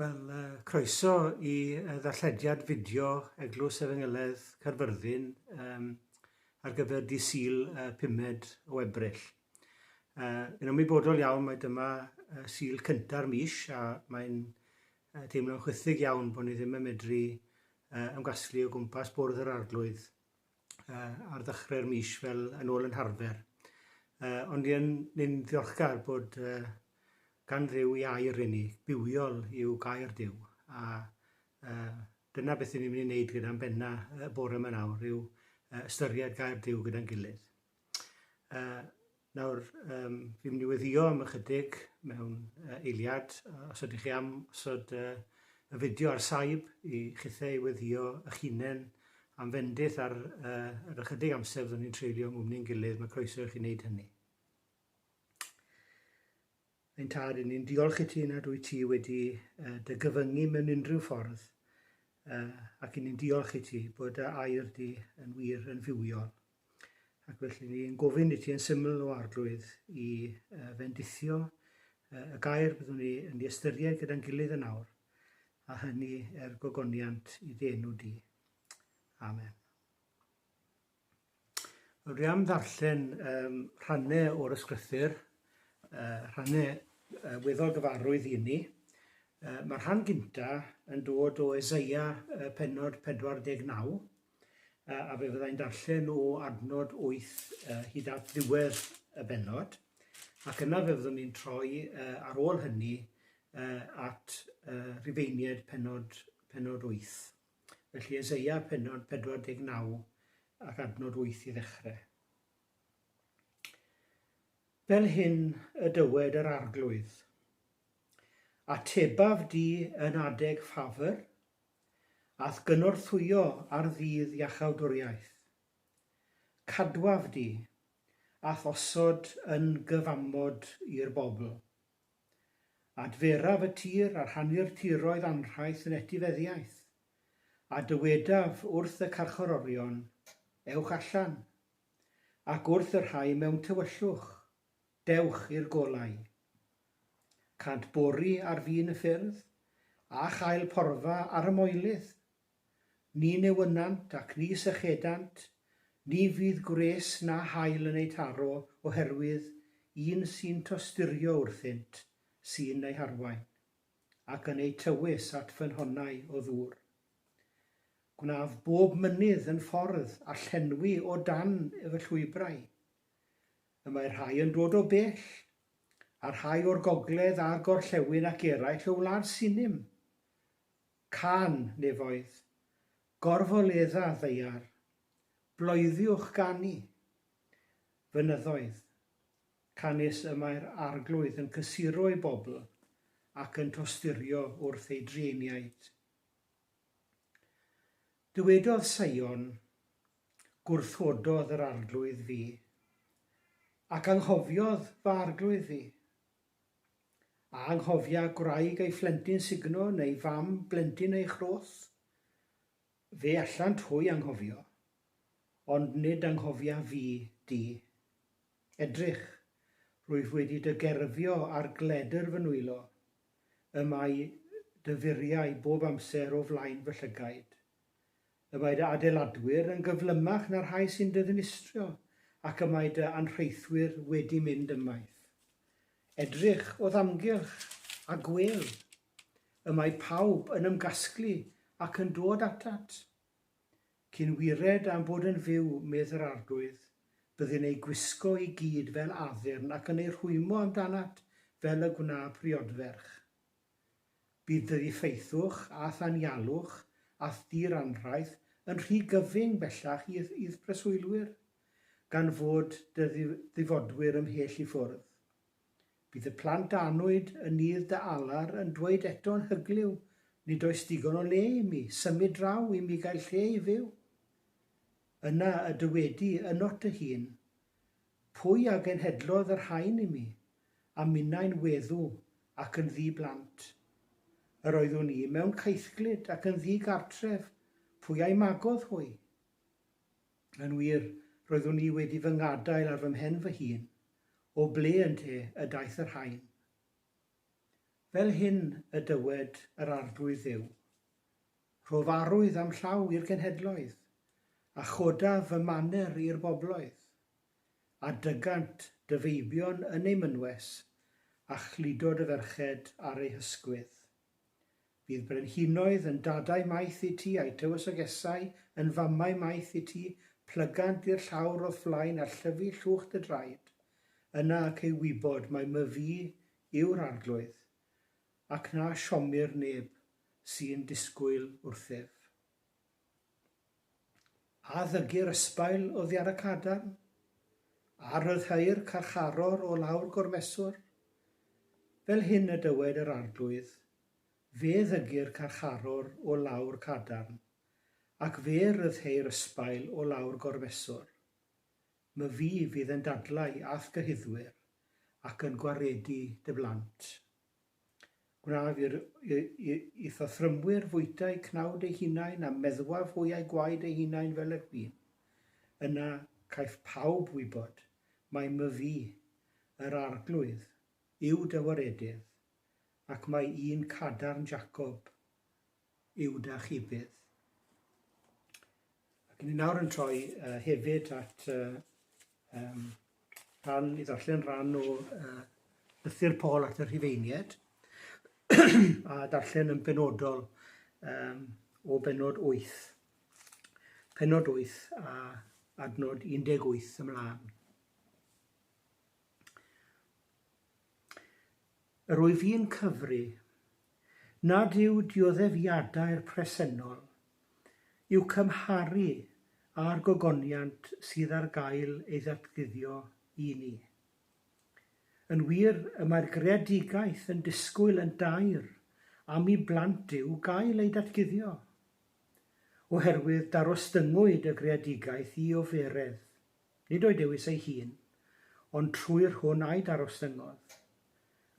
Wel, croeso i y ddarllediad fideo Eglwys Efengylaidd Caerfyrddin um, ar gyfer di Sil uh, pumed o Ebrill. Uh, yn ymwybodol iawn mae dyma uh, Sil cynta'r mis a mae'n uh, teimlo'n chwythig iawn bod ni ddim yn medru uh, ymgasglu o gwmpas bwrdd yr arglwydd uh, ar ddechrau'r mis fel yn ôl yn harfer. Uh, ond ni'n ni ddiolchgar bod uh, gan ryw i air i ni, bywiol i'w gair diw. A uh, dyna beth ni'n mynd i wneud gyda'n benna y bore yma nawr, yw uh, ystyried gair diw gyda'n gilydd. Uh, nawr, um, fi'n mynd i weddio am ychydig mewn uh, eiliad, os ydych chi am osod uh, y fideo ar saib i chithau i weddio eich hunain am fendith ar, uh, ar ychydig amser fyddwn ni'n treulio yng ni'n gilydd, mae croeso i chi wneud hynny. Ein tad, ni'n diolch i ti nad wyt ti wedi uh, dy gyfyngu mewn unrhyw ffordd, uh, ac ni'n diolch i ti bod dy air di yn wir yn fywiol. Ac felly fi yn gofyn i ti yn syml o arglwydd i uh, fendithio uh, y gair byddwn ni yn ei ystyried gyda'n gilydd yn awr, a hynny er gogoniant i dy enw di. Amen. Wel, dwi am ddarllen um, rhannau o'r ysgrythyr, uh, rhannau uh, weddol gyfarwydd i ni. Uh, Mae'r rhan gynta yn dod o Ezeia uh, penod 49, a fe fyddai'n darllen o adnod 8 hyd at ddiwedd y benod, ac yna fe fyddwn ni'n troi ar ôl hynny at Rifeiniaid penod, penod 8. Felly Ezeia penod 49 ac adnod 8 i ddechrau. Fel hyn y dywed yr arglwydd. Atebaf di yn adeg ffafr, A'th gynorthwyo ar ddydd Iachawdwriaeth. Cadwaf di, a'th osod yn gyfamod i'r bobl. Adferaf y tir a rhannu'r tiroedd anrhaith yn etifeddiaeth, a dywedaf wrth y carcharorion, Ewch allan! ac wrth y rhai mewn tywyllwch, Dewch i'r golau. Cânt bori ar fin y ffyrdd, a chael porfa ar y moelydd. Ni newynnant ac ni sychedant, ni fydd gwres na haul yn eu taro oherwydd un sy'n tosturio wrthynt, sy'n eu harwain, ac yn eu tywys at ffynhonnau o ddŵr. Gwnaf bob mynydd yn ffordd a llenwi o dan fy llwybrau. Y mae rhai yn dod o bell, a rhai o'r gogledd a'r gorllewin ac eraill o wlad Sinim. Cân, nefoedd! Gorfoledda, ddaear! Bloeddiwch ganu! Fynyddoedd! Canys y mae'r Arglwydd yn cysuro ei bobl ac yn tosturio wrth ei drueiniaid. Dywedodd Sion, Gwrthododd yr Arglwydd fi, ac anghofiodd fy arglwydd fi. A anghofia gwraig ei phlentyn sugno neu fam blentyn ei chroth? Fe allant hwy anghofio, ond nid anghofia fi di. Edrych, rwyf wedi dy gerfio ar gledr fy nwylo, y mae dy furiau bob amser o flaen fy llygaid. Y mae dy adeiladwyr yn gyflymach na'r rhai sy'n dy ddinistrio, ac y mae dy anrheithwyr wedi mynd ymaith. Edrych o'th amgylch, a gwel! Y mae pawb yn ymgasglu ac yn dod atat. Cyn wired am fod yn fyw, medd yr Arglwydd, byddin eu gwisgo i gyd fel addurn ac yn eu rhwymo amdanat fel y gwna priodferch. Bydd dy ddiffeithwch, a'th anialwch, a'th di-ranrhaith yn rhy gyfyng bellach i'th i'th preswylwyr, gan fod dy ddifodwyr ymhell i ffwrdd. Bydd y plant annwyd yn nydd dy alar yn dweud eto'n hyglyw, Nid oes digon o le i mi, symud draw i mi gael lle i fyw. Yna y dywedi ynot dy hun, Pwy a genhedlodd yr rhain i mi, a minnau'n weddw ac yn ddi-blant? Yr oeddwn i mewn caethglyd ac yn ddi-gartref, pwy a'i magodd hwy? Yn wir, roeddwn i wedi fy ngadael ar fy mhen fy hun, o ble ynte y daeth y rhain? Fel hyn y dywed yr Arglwydd Dduw, Rhof arwydd a'm llaw i'r genhedloedd, a chodaf fy maner i'r bobloedd, a dygant dy feibion yn eu mynwes, a chludo dy ferched ar eu hysgwydd. Fydd brenhinoedd yn dadau maith i ti a'i tywysogesau yn famau maith i ti, plygant di'r llawr o'th flaen a llyfu llwch dy draed, yna ac ei wybod mai myfi yw'r arglwydd, ac na siomir neb sy'n disgwyl wrthyf. A ddygir ysbail oddi ar y cadarn? A ryddhai'r carcharor o lawr gormeswr? Fel hyn y dywed yr Arglwydd, Fe ddygir carcharor o lawr cadarn, ac fe ryddheir ysbail o lawr gormeswr. My Fi fydd yn dadlau a'th gyhuddwyr, ac yn gwaredu dy blant. Gwnaed i'r ithathrymwyr fwyta'u cnawd eu hunain a meddwaf hwyau gwaed eu hunain fel yr hwy. Yna caiff pawb wybod mai myfi, yr Arglwydd, yw dy waredydd, ac mai un cadarn Jacob yw 'da chi byth. Ac ni nawr yn troi uh, hefyd at uh, um, rhan, i ddarllen rhan o uh, lythyr Paul at y Rhifeinied a darllen yn benodol um, o benod 8. Penod 8 a adnod 18 ymlaen. Yr wyf i'n cyfri nad yw dioddefiadau'r presennol i'w cymharu â'r gogoniant sydd ar gael ei ddatguddio i ni. Yn wir, y mae'r greadigaeth yn disgwyl yn daer am i blant Duw gael eu datguddio. Oherwydd darostyngwyd y greadigaeth i oferedd. nid o'i dewis ei hun, ond trwy'r hwn a'i darostyngodd,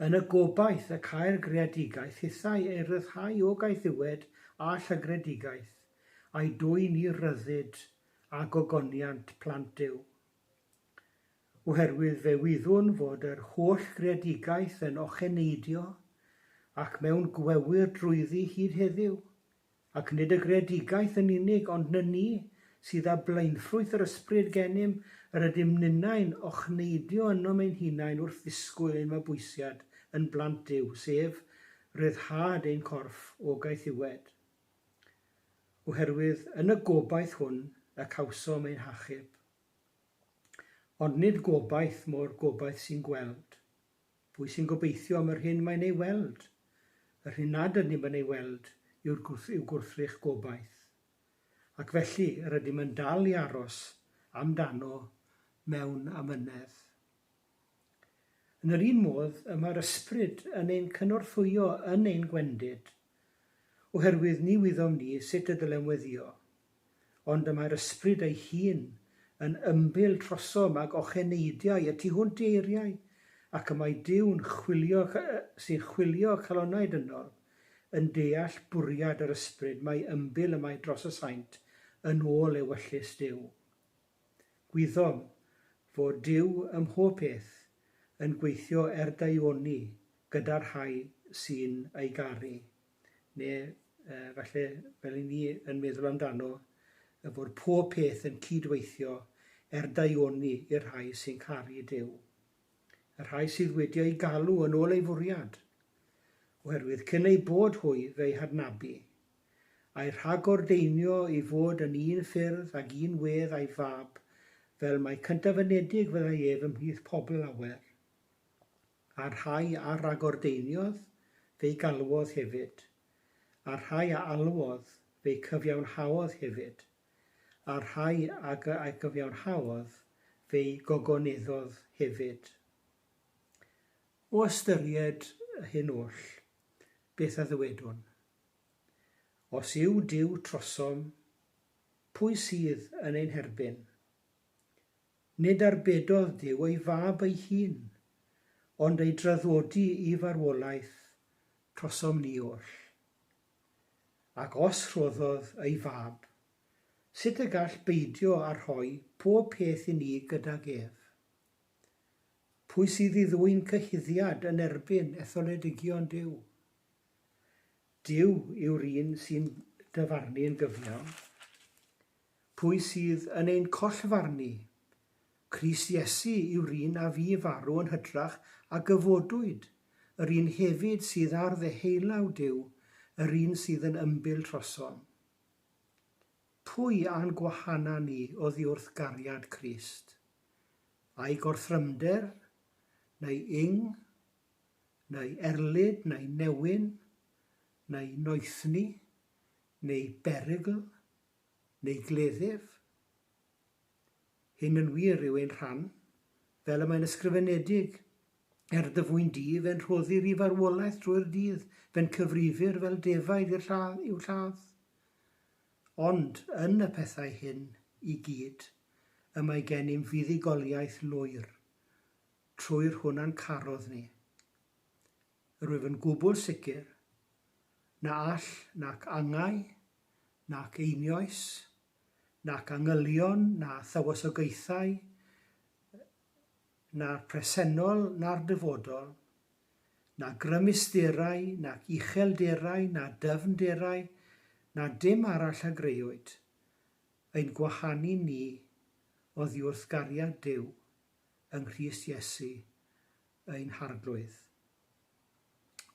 yn y gobaith y câi'r greadigaeth hithau ei ryddhau o gaethiwed a llygredigaeth, a'i dwyn i ryddid a gogoniant plant Duw. Oherwydd fe wyddwn fod yr holl greadigaeth yn ocheneidio ac mewn gwewyr drwyddi hyd heddyw, Ac nid y greadigaeth yn unig, ond na ni, sydd â blaenffrwyth yr ysbryd genym, yr ydym ninnau'n ochneidio ynom ein hunain wrth ddisgwyl ein mabwysiad yn blant Duw, sef, ryddhad ein corff o gaethiwed. Oherwydd yn y gobaith hwn y cawsom ein hachub. Ond nid gobaith mo'r gobaith sy'n gweld. Pwy sy'n gobeithio am yr hyn mae'n ei weld? Yr hyn nad ydym yn ei weld yw'r gwrth yw gwrthrych gobaith. Ac felly, yr ydym yn dal i aros am dano mewn amynedd. Yn yr un modd, y mae'r Ysbryd yn ein cynorthwyo yn ein gwendid, oherwydd ni wyddom ni sut y dylem weddio. ond y mae'r ysbryd ei hun yn ymbil trosom ag ocheneidiau y tu hwnt i eiriau, ac y mae Duw'n chwilio, sy'n chwilio calonau dynol, yn deall bwriad yr ysbryd mae ymbil y mae dros y saint yn ôl ewyllys Duw. Gwyddom fod Duw ym mhob peth yn gweithio er daioni gyda'r rhai sy'n ei garu. neu yy falle fel 'yn ni yn meddwl amdano, y bod pob peth yn cyd-weithio er daioni i'r rhai sy'n caru Duw, y rhai sydd wedi eu galw yn ôl ei fwriad, oherwydd cyn eu bod hwy fe'i hadnabu, a'i rhagordeinio i fod yn un ffyrdd ag un wedd a'i fab, fel mai cyntaf-fynedig fyddai ef ymhlith pobl lawer. a'r rhai a ragordeiniodd fe'i galwodd hefyd, a'r rhai a alwodd fe'i cyfiawnhaodd hefyd, a'r rhai ag a gyfiawnhaodd fe'i gogoneddodd hefyd. O ystyried hyn oll, beth a ddywedwn? Os yw Duw trosom, pwy sydd yn ein herbyn? Nid arbedodd Duw ei Fab ei hun, ond ei draddodi i farwolaeth trosom ni oll. Ac os rhoddodd ei Fab, sut y gall beidio â rhoi pob peth i ni gydag ef? Pwy sydd i ddwyn cyhuddiad yn erbyn etholedigion Duw? Duw yw'r un sy'n dyfarnu'n gyfiawn. Pwy sydd yn ein collfarnu? Crist Iesu yw'r un a fu farw yn hytrach a gyfodwyd, yr un hefyd sydd ar ddeheullaw Duw, yr un sydd yn ymbil trosom. Pwy a'n gwahana ni oddi wrth gariad Crist? Ai gorthrymder, neu ing, neu erlid, neu newyn, neu noethni, neu berygl, neu gleddyf. Hyn yn wir yw ein rhan, fel y mae'n ysgrifenedig, Er dy fwyn di, fe'n rhoddir i farwolaeth drwy'r dydd, fe'n cyfrifir fel defaid i'r lladd, i'w lladd. Ond, yn y pethau hyn i gyd, y mae gennym fuddugoliaeth lwyr, trwy'r hwn a'n carodd ni. Rwyf yn gwbl sicr, na all nac angau, nac einioes, nac angylion na thywysogaethau, na'r presennol na'r dyfodol, na grymusderau nac uchelderau na dyfnderau na dim arall a greuwyd, ein gwahanu ni oddiwrth gariad Duw yng Nghrist Iesu ein harglwydd.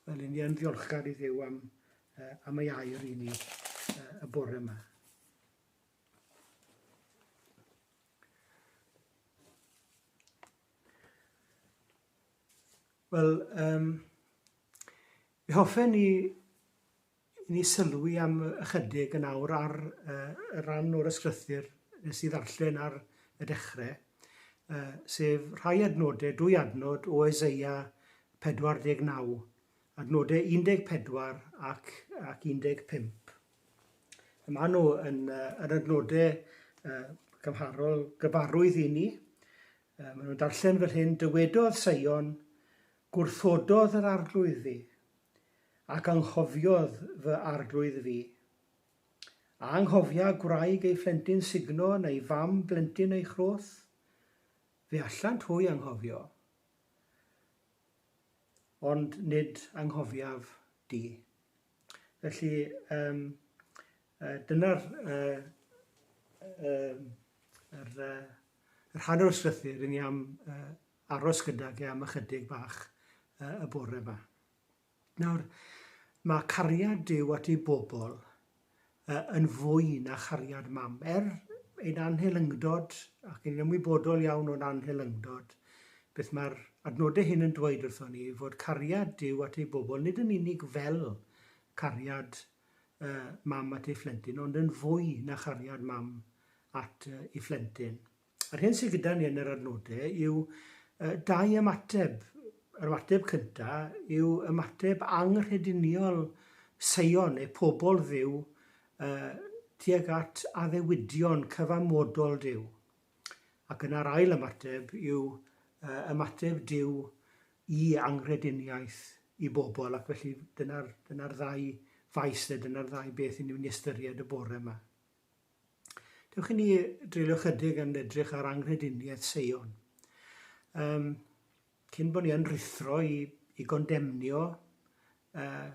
Wel, yn yn ddiolchgar i ddew am, uh, am ei air i ni uh, y bore yma. Wel, um, mi hoffen ni I ni sylwi am ychydig yn awr ar y rhan o'r ysgrythur nes i ddarllen ar y dechre, sef rhai adnode, dwy adnod o Eseia 49, adnode 14 ac 15. Y mae nhw yn yr adnode cymharol gyfarwydd i ni. Mae nhw'n darllen fel hyn, Dywedodd Seion, gwrthododd yr arglwydd fi, Ac anghofiodd fy arglwydd fi. A anghofia gwraig ei phlentyn sugno neu fam blentyn ei chroth? Fe allant hwy anghofio, ond nid anghofiaf di. Felly, um, uh, dyna'r uh, uh, yr, uh, yr hanner o slythyr i ni am uh, aros gydag e am ychydig bach y bore 'ma. Nawr, mae cariad Duw at ei bobl yn fwy na chariad mam. Er ein anhelyngdod, ac yn ymwybodol iawn o'n anhelyngdod, beth mae'r adnodau hyn yn dweud wrthon ni, fod cariad Duw at ei bobl nid yn unig fel cariad mam at ei phlentyn, ond yn fwy na chariad mam at ei phlentyn. Yr hyn sydd gyda ni yn yr adnodau yw dau ymateb. Yr ymateb cynta yw ymateb anghrediniol Seion neu pobl Dduw tuag at addewidion cyfamodol Duw. Ac yna'r ail ymateb yw ymateb Duw i anghrediniaeth i bobl ac felly dyna'r dyna ddau faes de, dyna'r ddau beth i ni'n ystyried y bore yma. Dewch i ni dreulio chydig yn edrych ar anghrediniaeth Seion. Um, cyn bod ni yn rithro i, i gondemnio uh,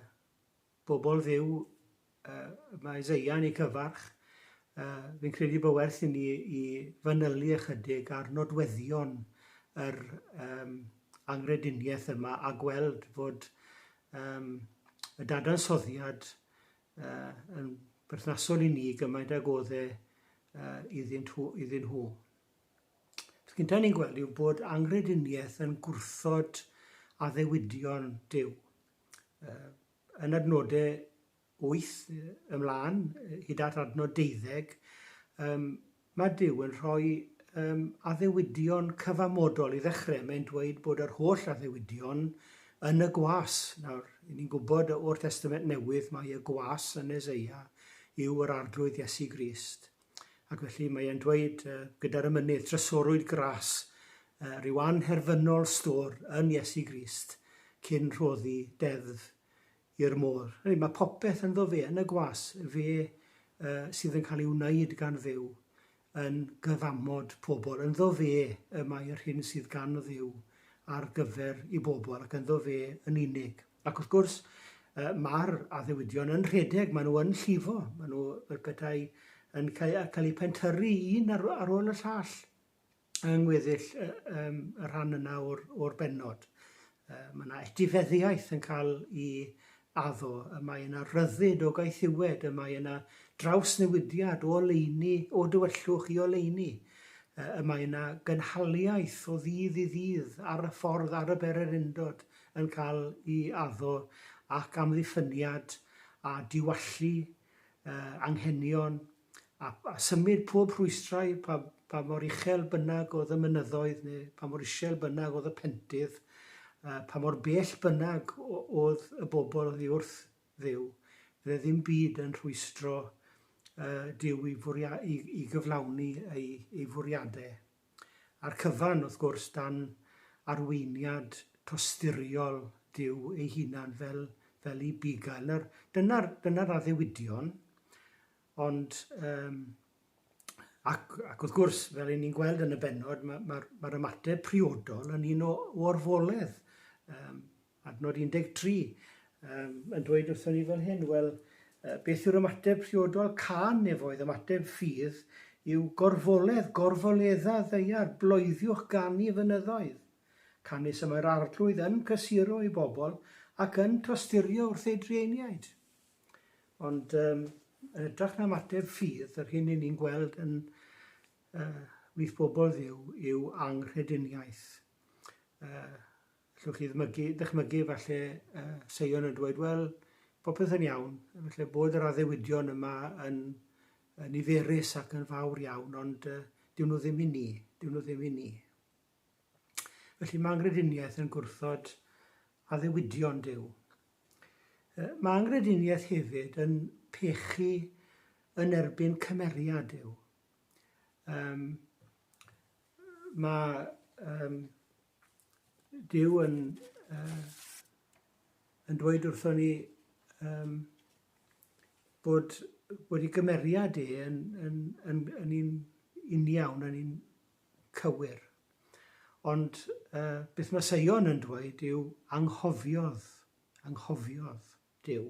bobl ddiw uh, mae Isaiah yn ei cyfarch, uh, fi'n credu bod werth i ni i fanylu ychydig ar nodweddion yr um, anghrediniaeth yma a gweld fod um, y dadansoddiad uh, yn berthnasol i ni gymaint ag oedd e uh, iddyn, nhw, iddyn nhw. Beth gyntaf ni'n gweld yw bod angrediniaeth yn gwrthod addewidion Dyw. Uh, yn adnodau 8 ymlaen, hyd at adnod 12, um, Mae Duw yn rhoi um, addewidion cyfamodol i ddechrau. Mae'n dweud bod yr holl addewidion yn y gwas. Nawr, ni'n gwybod o'r Testament Newydd mae y gwas yn Ezeia yw yr arglwydd Iesu Grist. Ac felly mae e'n dweud uh, gyda'r ymynydd, trysorwyd gras uh, rhyw anherfynol stor yn Iesu Grist cyn rhoddi deddf i'r môr. Hynny, mae popeth ynddo fe, yn y gwas, fe yy sydd yn cael ei wneud gan Dduw, yn gyfamod pobl. Ynddo fe y mae yr hyn sydd gan Dduw ar gyfer i bobl, ac ynddo fe yn unig. Ac wrth gwrs, yy mae'r addewidion yn rhedeg, maen nhw yn llifo, maen nhw fel petai yn cael, cael eu pentyrru un ar, ar ôl y llall. yng ngweddill y, um, y rhan yna o'r, or benod. Uh, mae yna etifeddiaeth yn cael i addo, y mae yna ryddid o gaethiwed, y mae yna drawsnewidiad o oleini, o dywyllwch i oleini, y mae yna gynhaliaeth o ddydd i ddydd ar y ffordd ar y bererindod yn cael i addo ac amddiffyniad a diwallu uh, anghenion a symud pob rhwystrau, pa, pa mor uchel bynnag oedd y mynyddoedd, neu pa mor isel bynnag oedd y pentydd, a pa mor bell bynnag oedd y bobl oddi wrth ddiw, fydde ddim byd yn rhwystro uh, Duw i, fwria, i, i gyflawni ei, ei fwriadau. A'r cyfan, wrth gwrs, dan arweiniad tosturiol Duw ei hunan fel, fel i bugail. Nawr, dyna'r, dyna'r addewidion, ond um, ac, ac wrth gwrs, fel i ni'n gweld yn y benod, mae'r ma, ma, ma ymateb priodol yn un o, o orfoledd um, Adnod 13, yym, yn dweud wrthon ni fel hyn, wel, beth yw'r ymateb priodol? Cân nefoedd, ymateb ffydd, yw gorfoledd, gorfoledda ddeiar, bloeddiwch ganu fynyddoedd. Canys y mae'r Arglwydd yn cysuro ei bobl ac yn tosturio wrth ei drueiniaid. Ond um, yn ytrach na ymateb ffydd, yr hyn ni'n gweld yn uh, wyth bobl ddiw yw anghrediniaeth. Uh, Allwch chi ddmygu, dychmygu efallai yy Seion yn dweud, wel, popeth yn iawn, efallai bod yr addewidion yma yn yy niferus ac yn fawr iawn, ond yy dyw nhw ddim i ni, dyw nhw ddim i ni. Felly mae angrediniaeth yn gwrthod addewidion Duw. Yy, mae angrediniaeth hefyd yn pechu yn erbyn cymeriad Duw. Um, mae um, Duw yn yy yn dweud wrthon ni yym bod bod ei gymeriad e yn yn yn yn un uniawn yn un cywir. Ond yy beth mae Seion yn dweud yw anghofiodd, anghofiodd Duw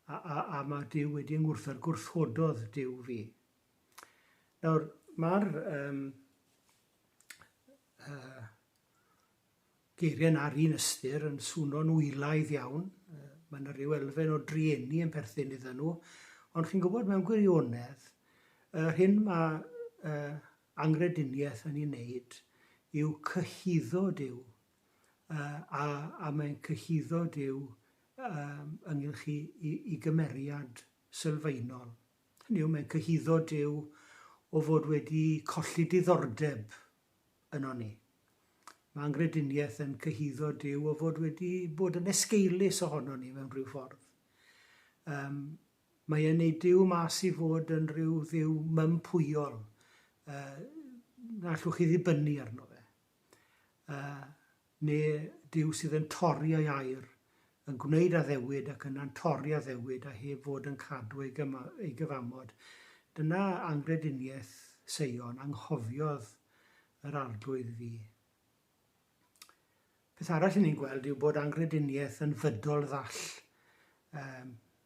a a a mae Duw wedi yng ngwrthod gwrthwododd Duw fi. Nawr ma'r yym y geiriau na'r un ystyr yn swno'n wylaidd iawn, mae yna ryw elfen o drueni yn perthyn iddyn nhw, ond chi'n gwybod mewn gwirionedd, yr hyn mae uh, angrediniaeth yn ei wneud yw cyhuddo Dyw, uh, a, a mae'n cyhuddo Dyw um, ynghylch i, i, i gymeriad sylfaenol. Hynny yw, mae'n cyhuddo Duw o fod wedi colli diddordeb yno ni. Mae angrediniaeth yn cyhuddo Duw o fod wedi bod yn esgeulus ohono ni mewn rhyw ffordd. Um, mae e'n ei Duw mas i fod yn rhyw dduw mympwyol, uh, na allwch chi ddibynnu arno fe. yy, neu Duw sydd yn torri ei air, yn gwneud addewid ac yna'n torri addewid a heb fod yn cadw ei, ei gyfamod. Dyna angrediniaeth Seion, anghofiodd yr Arglwydd fi. Peth arall i ni'n gweld yw bod angrediniaeth yn fydol ddall. Um,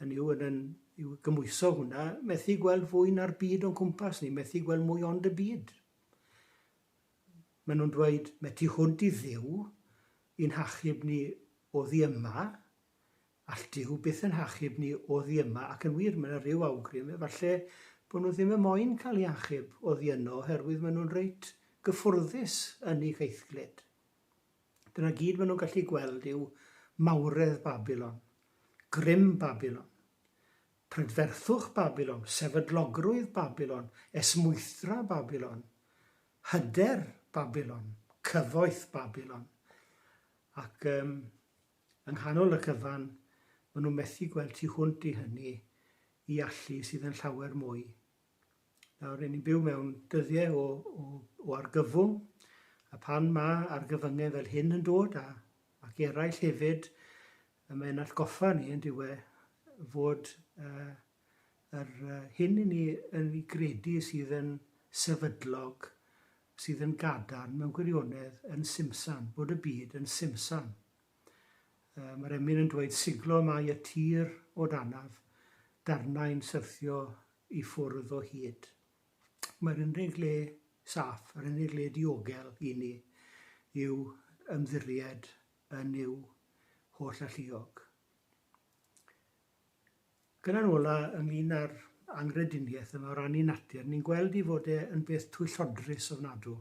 hynny yw, yn yn yw gymwyso hwnna, methu gweld fwy na'r byd o'n cwmpas ni, methu gweld mwy ond y byd. Maen nhw'n dweud, mae tu hwnt i ddiw, i'n hachub ni o ddi yma, all diw byth yn hachub ni o ddi yma, ac yn wir, mae yna rhyw awgrym, efallai bod nhw ddim yn moyn cael ei achub o ddi yno, oherwydd maen nhw'n reit gyffwrddus yn ei geithglyd. Dyna gyd maen nhw'n gallu gweld yw mawredd Babilon, grym Babilon, prydferthwch Babilon, sefydlogrwydd Babilon, esmwythra Babilon, hyder Babilon, cyfoeth Babilon. Ac um, yng nghanol y cyfan, maen nhw'n methu gweld tu hwnt i hynny i allu sydd yn llawer mwy Nawr, rydyn ni'n byw mewn dyddiau o, o, o argyfwng, a pan mae argyfyngau fel hyn yn dod, a, ac eraill hefyd, y mae'n allgoffa ni yn diwe fod uh, yr uh, hyn i ni yn ei gredu sydd yn sefydlog, sydd yn gadarn mewn gwirionedd yn simsan, bod y byd yn simsan. Yy mae'r emyn yn dweud siglo mae y tir o danaf, darnau'n syrthio i ffwrdd o hyd. Mae'r unig le saff, yr unig le diogel i ni yw ymddiried yn Nuw holl alluog. Gyda'n ola ynglyn â'r anghrediniaeth yma o ran i natur, ni'n gweld i fod e yn beth twyllodrus ofnadw.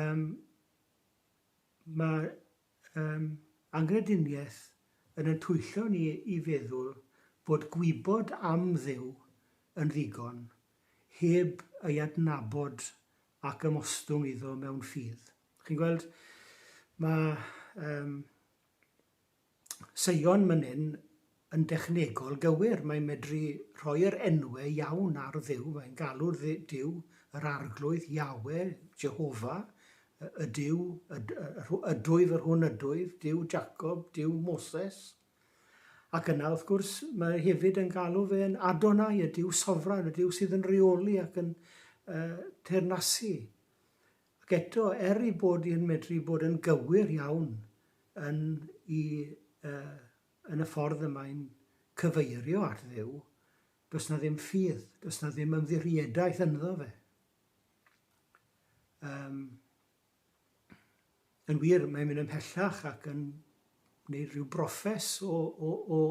Um, Mae'r um, anghrediniaeth yn yn twyllo ni i feddwl bod gwybod am Dduw yn ddigon, heb ei adnabod ac ymostwng iddo mewn ffydd. Chi'n gweld? Mae um, Seion mynnyn yn dechnegol gywir, mae'n medru rhoi yr enwau iawn ar Dduw, mae'n galw Duw yr Arglwydd, Yahweh, Jehova, y Duw, y, y, ydwyf, yr hwn ydwyf, Duw Jacob, Duw Moses. Ac yna, wrth gwrs, mae hefyd yn galw fe'n Adonai, y Duw Sofran, y Duw sydd yn reoli ac yn uh, teyrnasu. Ac eto, er ei bod hi yn medru bod yn gywir iawn yn i yy yn y ffordd y mae'n cyfeirio at Dduw, does 'na ddim ffydd, does 'na ddim ymddiriedaeth ynddo fe. Yym, yn wir, mae'n mynd ymhellach ac yn gwneud rhyw broffes o, o, o,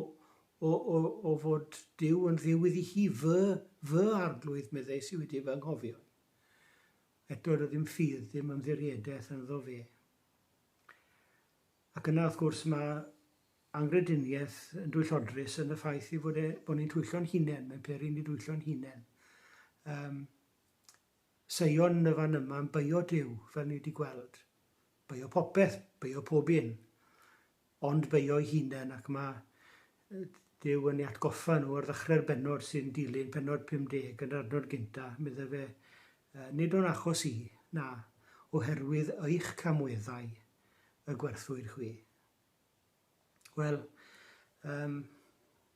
o, o, o fod Duw yn dduw iddi hi, fy, fy arglwydd, meddais i wedi fy nghofio. Eto rydym ffydd ddim ymddiriedaeth ynddo fe. Ac yna, wrth gwrs, mae anghrediniaeth yn dwyllodrus yn y ffaith ei fod e, bod ni'n twyllo'n hunain, mae'n peri ni dwyllo'n hunain. Um, Seion yn y fan yma yn beio Dyw, fel ni wedi gweld. Beio popeth, beio pob un. Ond beio'i hunen, ac mae Duw yn ei atgoffa nhw ar ddechrau'r bennod sy'n dilyn pennod 50 yn yr adnod gyntaf, medda fe, Nid o'n achos i, na, oherwydd eich camweddau y gwerthwyd chwi. Wel, um,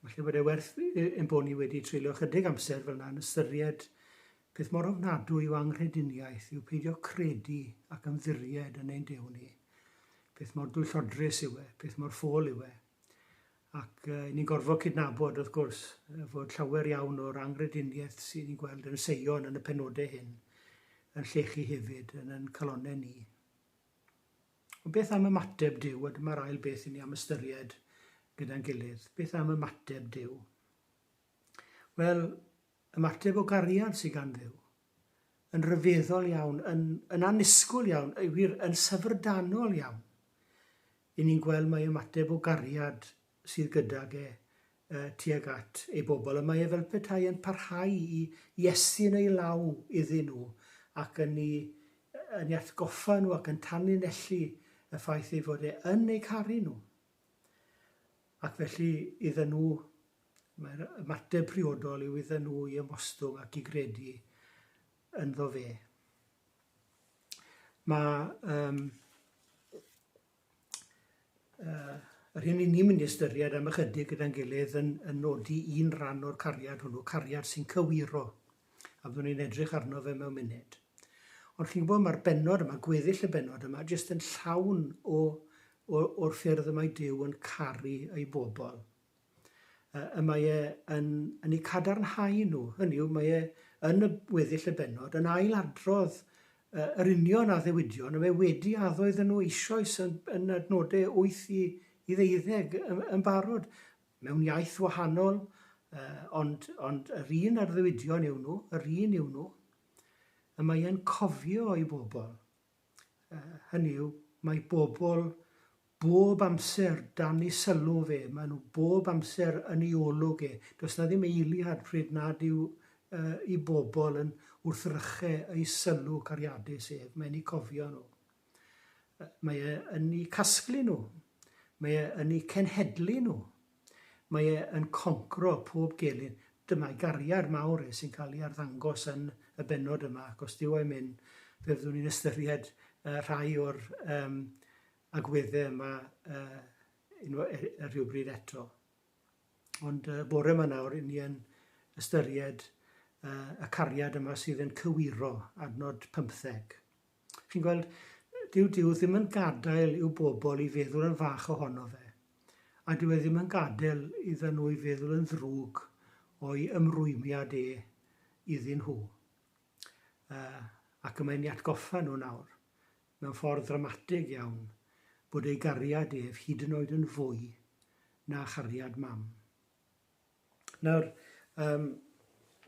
Falle bod e werth ein bod ni wedi treulio ychydig amser fel yna yn ystyried peth mor ofnadwy o anghrediniaeth yw peidio credu ac ymddiried yn ein Duw ni. Peth mor dwyllodrus yw e, peth mor ffôl yw e. Ac uh, ni'n gorfod cydnabod, wrth gwrs, fod llawer iawn o'r anghrediniaeth sy'n ni'n gweld yn y seion yn y penodau hyn yn llechu hefyd yn yn calonau ni. Ond beth am ymateb Duw? A dyma'r ail beth i ni am ystyried gyda'n gilydd. Beth am ymateb Duw? Wel, ymateb o gariad sydd gan Dduw. Yn rhyfeddol iawn, yn, yn anusgwl iawn, wir, yn syfrdanol iawn. I ni'n gweld mae ymateb o gariad sydd gydag e, tuag at ei bobl, y mae e fel petai yn parhau i Iesu yn ei law iddyn nhw, ac yn i, yn i atgoffa nhw ac yn tanlinellu y ffaith ei fod e yn eu caru nhw. Ac felly, iddyn nhw, mae'r ymateb priodol yw iddyn nhw i ymostwng ac i gredu ynddo fe. Mae um, yy yr hyn i ni'n mynd i ystyried am ychydig gyda'n gilydd yn, yn nodi un rhan o'r cariad hwnnw, cariad sy'n cywiro, a fyddwn ni'n edrych arno fe mewn munud. Ond chi'n gwybod, mae'r benod yma, gweddill y benod yma, jyst yn llawn o, o, o'r ffyrdd y mae Dyw yn caru ei bobl. y mae e yn yn eu cadarnhau nhw, hynny yw, mae e yn y weddill y bennod yn ail-adrodd uh, yr union addewidion y mae wedi addo iddyn nhw eisoes yn, yn adnodau 8 i, i ddeuddeg yn, yn barod, mewn iaith wahanol, uh, ond, ond yr un addewidion yw nhw, yr un yw nhw, y mae e'n cofio i bobl. hynny yw, mae bobl bob amser dan ei sylw fe, maen nhw bob amser yn ei olwg e. Does 'na ddim eiliad pryd nad yw yy 'i bobl yn wrthryche ei sylw cariadus ef, mae'n eu cofio nhw. Mae e yn eu casglu nhw, mae e yn eu cenhedlu nhw. Mae e yn concro pob gelyn. Dyma'i gariad mawr e sy'n cael ei arddangos yn y bennod yma ac os dyw e'm myn' fe fyddwn ni'n ystyried yy rhai o'r yym agwedde yma yy unwa- yy yy rhywbryd eto. Ond yy bore 'ma nawr 'yn ni yn ystyried yy y cariad yma sydd yn cywiro, adnod pymtheg. Chi'n gweld, dyw Duw ddim yn gadael i'w bobl i feddwl yn fach ohono fe, a dyw e ddim yn gadael iddyn nhw i feddwl yn ddrwg o'i ymrwymiad e iddyn nhw. Uh, ac y mae'n ei atgoffa nhw nawr, mewn ffordd ddramatig iawn, bod ei gariad ef hyd yn oed yn fwy na chariad mam. Nawr, yym,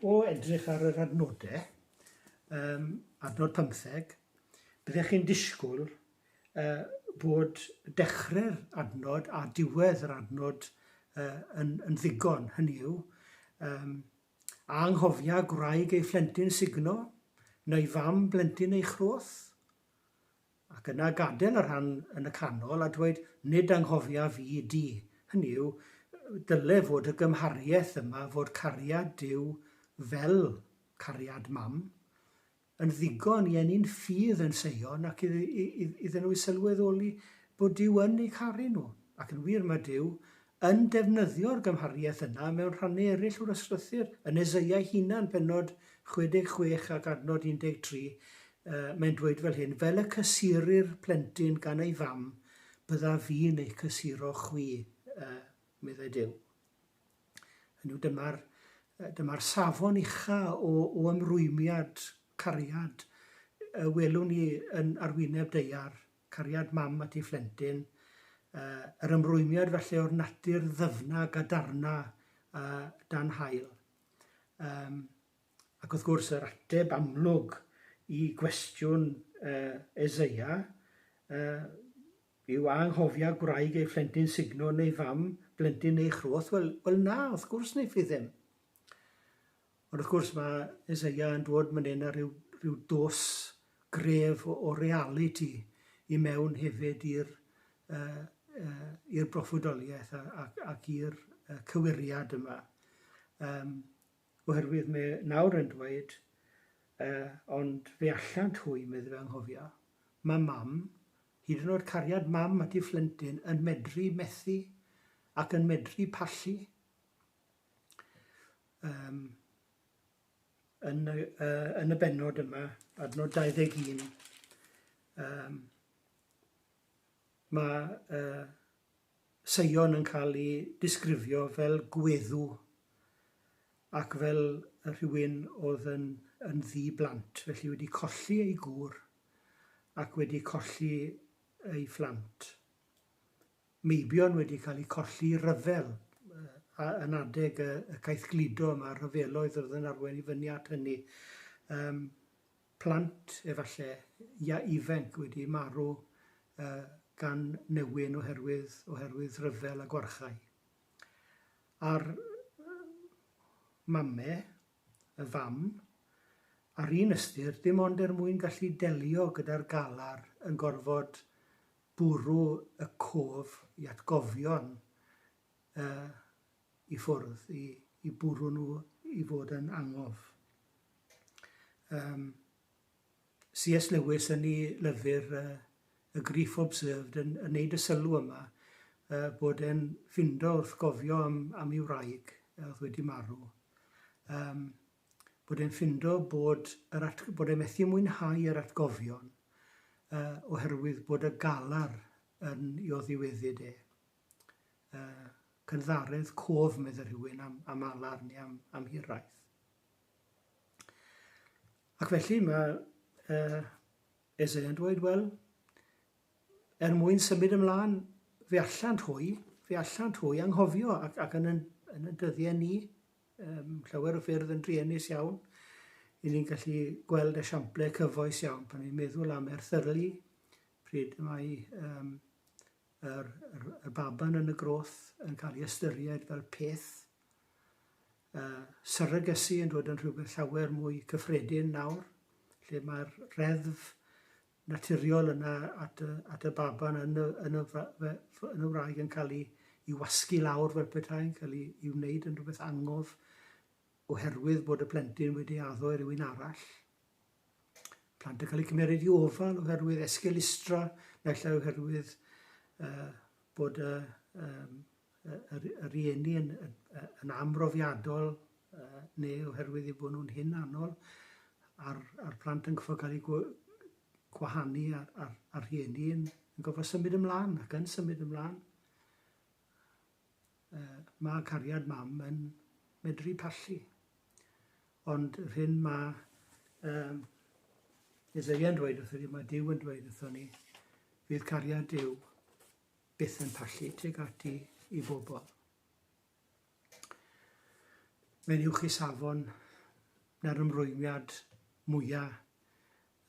o edrych ar yr adnodau, yym, adnod pymtheg, byddech chi'n disgwyl uh, bod dechrau'r adnod a diwedd yr adnod uh, yn, yn ddigon, hynny yw, um, a anghofia gwraig ei phlentyn sugno, neu fam blentyn ei chroth? ac yna gadael y rhan yn y canol a dweud 'nid anghofiaf i di', hynny yw, dyle fod y gymhariaeth yma fod cariad Duw fel cariad mam, yn ddigon i eni'n ffydd yn Seion ac iddyn nhw sylweddoli bod Duw yn eu caru nhw. Ac yn wir, mae Duw yn defnyddio'r gymhariaeth yna mewn rhannau eraill o'r ysgrythur, yn Eseia'i hunan, pennod 66 ac adnod 13, mae'n dweud fel hyn, Fel y cysurir plentyn gan ei fam, bydda fi'n eich cysuro chwi, meddai Duw. Hynny yw, dyma'r dyma safon ucha o, o ymrwymiad, cariad, y welwn ni yn arwyneb deiar cariad mam at ei phlentyn, yr ymrwymiad falle o'r natur ddyfna, gadarna dan haul. Yym, ac wrth gwrs yr ateb amlwg i gwestiwn Eseia yw a anghofia gwraig ei phlentyn sugno neu fam blentyn ei chroth? Wel, wel na, wrth gwrs wneiff hi ddim. Ond wrth gwrs mae Eseia yn dod man hyn â rhyw, rhyw dos gref o, o realiti i mewn hefyd i'r uh, uh, i'r broffwydoliaeth ac, ac i'r uh, cywiriad yma. Um, oherwydd mae nawr yn dweud, uh, ond fe allant hwy, meddwl fe anghofio, mae mam, hyd yn oed cariad mam at ei phlentyn, yn medru methu ac yn medru pallu. Um, yn, y, uh, yn y benod yma, adnod 21, um, mae uh, Seion yn cael ei disgrifio fel gweddw ac fel rhywun oedd yn, yn ddi blant, felly wedi colli ei gŵr ac wedi colli ei phlant. meibion wedi cael eu colli i ryfel yn adeg y caeth gludo yma, rhyfeloedd oedd yn arwain i fyny at hynny. Yym, plant, efallai, ia, ifenc wedi marw gan newyn oherwydd oherwydd ryfel a gwarchae. A'r mame, y fam, ar un ystyr, dim ond er mwyn gallu delio gyda'r galar yn gorfod bwrw y cof i atgofion yy i ffwrdd, i i bwrw nhw i fod yn angof. Yym CS Lewis yn ei lyfr yy y Grief Observed yn yn neud y sylw yma yy bod e'n ffindo wrth gofio am am ei wraig yy o'dd wedi marw yym bod e'n ffindo bod yr at- bod e methu mwynhau yr atgofion yy oherwydd bod y galar yn i oddiweddyd e. Yy cynddaredd cof medde rhywun am am alar neu am am hiraeth. Ac felly mae yy Esau yn dweud wel er mwyn symud ymlaen fe allant hwy fe allant hwy anghofio ac ac yn yn yn y dyddiau ni Ym llawer o ffyrdd yn druenus iawn, i ni'n gallu gweld esiamplau cyfoes iawn. Pan ni'n meddwl am erthyrlu, pryd y mae um, yr, yr, y baban yn y groth yn cael ei ystyried fel peth, uh, syrygysu yn dod yn rhywbeth llawer mwy cyffredin nawr, lle mae'r reddf naturiol yna at y at y baban yn y yn y yn y wraig yn cael ei i wasgu lawr fel petai'n cael ei i wneud yn rhywbeth angof oherwydd bod y plentyn wedi addo i rywun arall. Plant yn cael eu cymeryd i ofal oherwydd esgelustra, naill ai oherwydd uh, bod y uh, um, y rhieni yn, yn amrofiadol neu oherwydd eu bod nhw'n hyn anol a'r, a'r plant yn cyffordd cael eu gwahanu a'r, a'r, a'r rhieni yn, yn gofod symud ymlaen ac yn symud ymlaen. Uh, mae cariad mam yn medru pallu. Ond yr hyn mae um, Isaiah yn dweud wrthyn ni, mae Dyw yn dweud wrthyn ni, fydd cariad Dyw byth yn pallu tuag ati i bobl. Mae'n uwch i safon na'r ymrwymiad mwyaf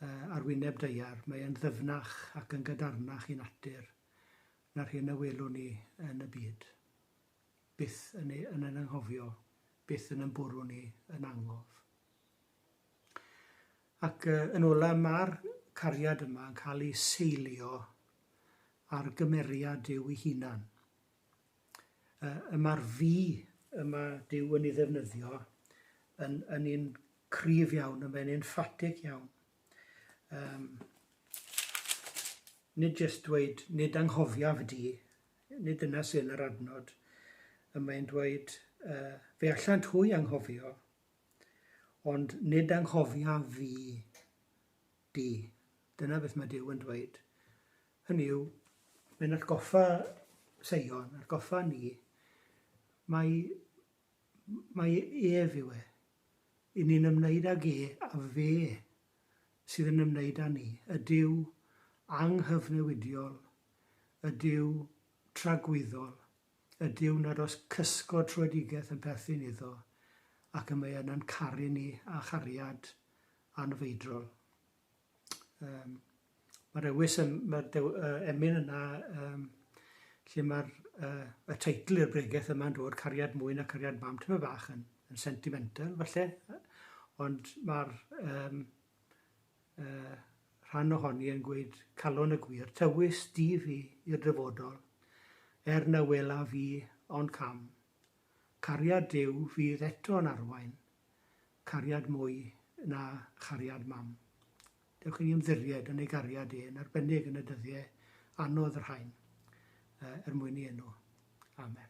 uh, ar wyneb deiar. Mae'n ddyfnach ac yn gadarnach i natur na'r hyn y welwn ni yn y byd. Byth yn, ei, yn anghofio, byth yn ymbwrw ni yn angof. Ac yn ola, mae'r cariad yma yn cael ei seilio ar gymeriad Duw ei hunan. Y mae'r fi yma Duw yn ei ddefnyddio yn, yn un cryf iawn, yn fe'n enffatig iawn. Um, nid jyst dweud, nid anghofiaf y di, nid dyna sy'n yr adnod. Y mae'n dweud, uh, fe allant hwy anghofio, Ond nid anghofiaf fi di. Dyna beth mae Duw yn dweud. Hynny yw, mae'n atgoffa Seion, atgoffa ni, mae, mae ef yw e. I ni'n ymwneud ag e a fe sydd yn ymwneud â ni. Y Duw anghyfnewidiol, y Duw tragwyddol, ydyw nad oes cysgod troedigaeth yn perthyn iddo, ac y mae yna'n caru ni â chariad anfeidrol. Um, Mae'r ewys, mae'r uh, emyn yna, um, lle mae'r uh, y teitl i'r bregeth yma'n dod, cariad mwy na cariad mam, tyma bach yn, yn sentimental, falle, ond mae'r um, y rhan ohoni yn gweud calon y gwir, tywys di fi i'r dyfodol, er na welaf i ond cam. Cariad Duw fydd eto'n arwain, cariad mwy na chariad mam. Dewch i ni ymddiried yn ei gariad e, yn arbennig yn y dyddiau anodd yr hain, er mwyn i enw. Amen.